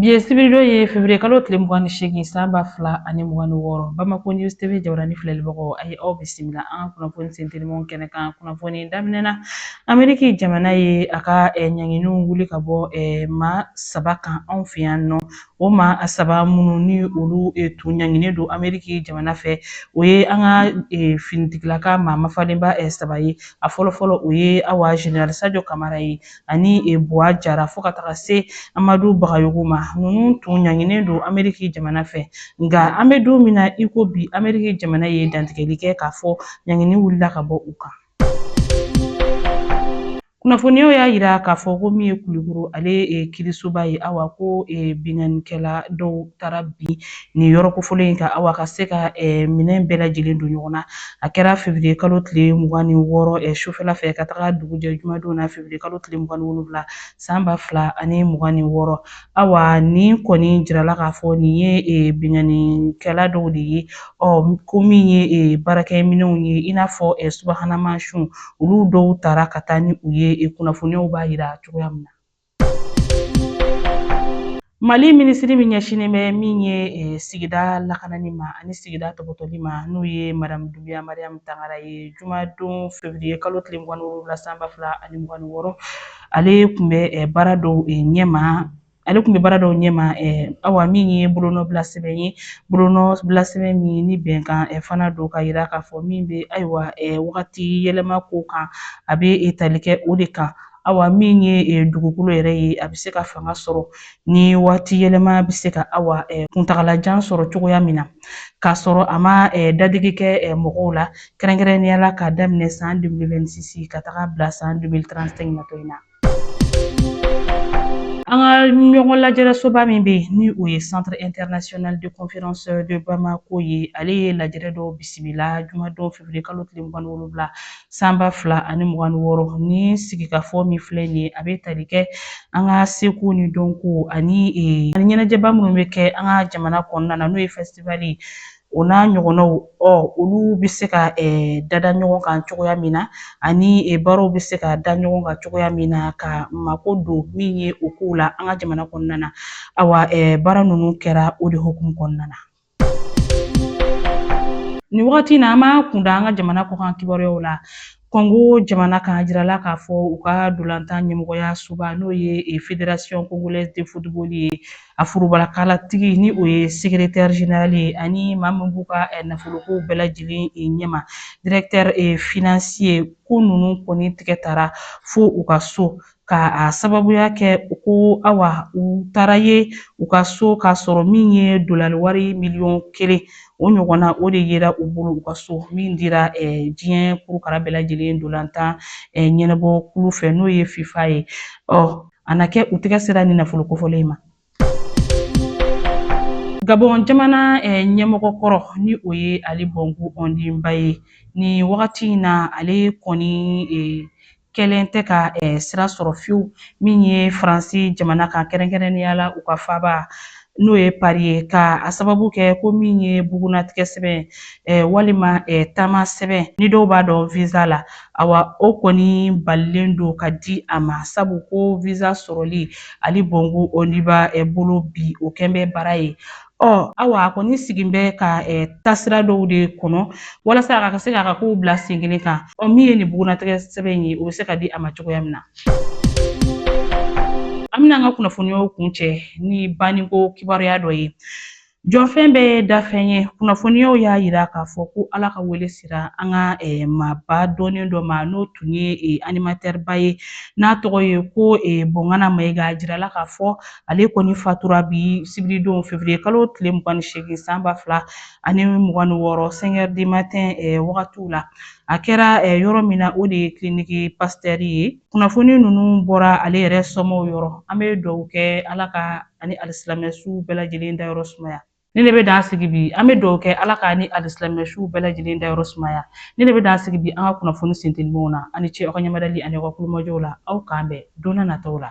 Bi ye sibiridon ye fevriye kalo tile mugan ni seegin san ba fila ani mugan ni wɔɔrɔ Bamako News TV jabarani filɛlibagaw a ye aw bisimila an ka kunnafoni sentelimanw kɛnɛ kan kunnafoni daminɛ na Ameriki jamana ye a ka eh, ɲanginiw wuli ka bɔ eh, maa saba kan anw fɛ yan nɔ o maa saba minnu ni olu eh, tun ɲanginen don Ameriki jamana fɛ o ye an ka eh, finitigilaka maa mafalenba eh, saba ye a fɔlɔfɔlɔ o ye awa General Sadio Kamara ye ani e buwa jara fo ka taga se amadu bagayogo ma ninnu tun ɲanginen don ameriki jamana fɛ nka an bɛ don min na i ko bi ameriki jamana ye dantigɛli kɛ k'a fɔ ɲangini wulila ka bɔ u kan kunnafoniyaw y'a yira k'a fɔ ko min ye kulikoro ale kiirisoba ye awa ko binkannikɛla dɔw taara bin nin yɔrɔ kofɔlen in kan awa ka se ka minɛn bɛɛ lajɛlen don ɲɔgɔn na a kɛra fevriye kalo tile mugan ni wɔɔrɔ sufɛla fɛ ka taga dugujɛ jumadon na fevriye kalo tile mugan ni wolonwula san ba fila ani mugan ni wɔɔrɔ awa nin kɔni jirala k'a fɔ nin ye binkannikɛla dɔw de ye ɔ ko min ye baarakɛminɛnw ye i n'a fɔ subahana mansinw olu dɔw tara ka taa ni u ye kunnafoniyaw b'a yira cogoya min na Mali minisiri min ɲɛsinnen bɛ min ye eh, sigida lakanani ma ani sigida tɔpɔtɔli ma n'o ye madamu dunbiya mariyamu tangara ye jumadon fevriye kalo tile mugan ni wolonwula san ba fila ani mugan ni wɔɔrɔ ale tun bɛ eh, baara dɔw eh, ɲɛma ale tun bɛ baara dɔw ɲɛma awa min ye bolonɔbila sɛbɛn ye bolonɔbila sɛbɛn min ni bɛnkan fana don ka yira k'a fɔ min bɛ ayiwa wagati yɛlɛma ko kan a bɛ tali kɛ o de kan Awa min ye eh, dugukolo yɛrɛ ye a bɛ se ka fanga sɔrɔ ni waati yɛlɛma bɛ se ka awa eh, kuntagalajan sɔrɔ cogoya min na k'a sɔrɔ a ma eh, dadigi kɛ mɔgɔw la kɛrɛnkɛrɛnnenya la k'a daminɛ san 2026 ka taga bila san 2035 natɔ in na. An ka ɲɔgɔn lajɛrɛsoba min bɛ yen ni o ye Centre International de Conférence de Bamako ye ale ye lajɛrɛ dɔw bisimila jumadon février kalo tile mugan ni wolonwula san ba fila ani mugan ni wɔɔrɔ ni sigikafɔ min filɛ nin ye a bɛ tali kɛ an ka seko ni dɔnko ani ani ɲɛnajɛba minnu bɛ kɛ an ka jamana kɔnɔna na n'o ye fɛsitivali ye o n'a ɲɔgɔnnaw ɔ olu bɛ se ka dada ɲɔgɔn kan cogoya min na ani baaraw bɛ se ka da ɲɔgɔn kan cogoya min na ka mako don min ye o kow la an ka jamana kɔnɔna na awa baara ninnu kɛra o de hukumu kɔnɔna na Nin wagati in na an b'an kun da an ka jamana kɔkan kibaruyaw la. Kɔngo jamana kan a jirala k'a fɔ u ka ntolatan ɲɛmɔgɔya soba n'o ye e Federation Congolaise de Football ye a forobalakalatigi ni o ye Secretaire General ye ani maa min b'u ka nafolokow bɛɛ lajɛlen e ɲɛma Directeur e Financier ko ninnu kɔni tigɛ tara fo u ka so ka a sababuya kɛ ko awa u taara ye u ka so k'a sɔrɔ min ye dolari wari miliyɔn kelen o ɲɔgɔnna o de yera u bolo u ka so min dira diɲɛ kurukara bɛɛ lajɛlen ntolatan ɲɛnabɔ kulu fɛ n'o ye fifa ye ɔ a na kɛ u tɛgɛ sera nin nafolo kofɔlen ma Gabɔn jamana ɲɛmɔgɔ kɔrɔ ni o ye Ali Bongo Ondimba ye ni wagati in na ale kɔni kɛlen tɛ ka sira sɔrɔ fiyewu min ye faransi jamana kan kɛrɛnkɛrɛnnenya la u ka faaba n'o ye pari ye ka a sababu kɛ ko min ye bugunnatigɛ sɛbɛn walima taama sɛbɛn ni dɔw b'a dɔn visa la Awa o kɔni balilen don ka di a ma sabu ko visa sɔrɔli Ali Bongo Ondimba eh, bolo bi o kɛlen bɛ baara ye. Ɔ awa a kɔni sigilen bɛ ka eh, taasira dɔw de kɔnɔ walasa a ka se k'a ka kow bila sen kelen kan. Ɔ min ye nin bugunnatigɛ sɛbɛn in ye o bɛ se ka di a ma cogoya min na. An bɛna an ka kunnafoniyaw kuncɛ ni banniko kibaruya dɔ ye. Jɔfɛn bɛɛ ye dafɛn ye. Kunnafoniyaw y'a jira k'a fɔ ko Ala ka wele sera an ka maaba dɔnnen dɔ ma, n'o tun ye animatɛriba ye, n'a tɔgɔ ye ko Bɔnkana Mayiga. A jirala k'a fɔ ale kɔni fatura bi sibiridon fevriye kalo tile mugan ni seegin san ba fila ani mugan ni wɔɔrɔ sɛnkɛri di matɛn wagatiw la. A kɛra yɔrɔ min na, o de ye kiliniki pasitɛri ye. Kunnafoni ninnu bɔra ale yɛrɛ somaaw yɔrɔ an bɛ duwa kɛ ala ka a ni alisilamɛ su bɛɛ lajɛlen dayɔrɔ sumaya ne de bɛ dan sigi bi an bɛ duwa kɛ ala k'a ni alisilamɛ su bɛɛ lajɛlen dayɔrɔ sumaya ne de bɛ dan sigi bi an ka kunnafoni sentelimaw na aw ni ce aw ka ɲamadali ani aw ka kulomajɔw la aw k'an bɛn donna nataw la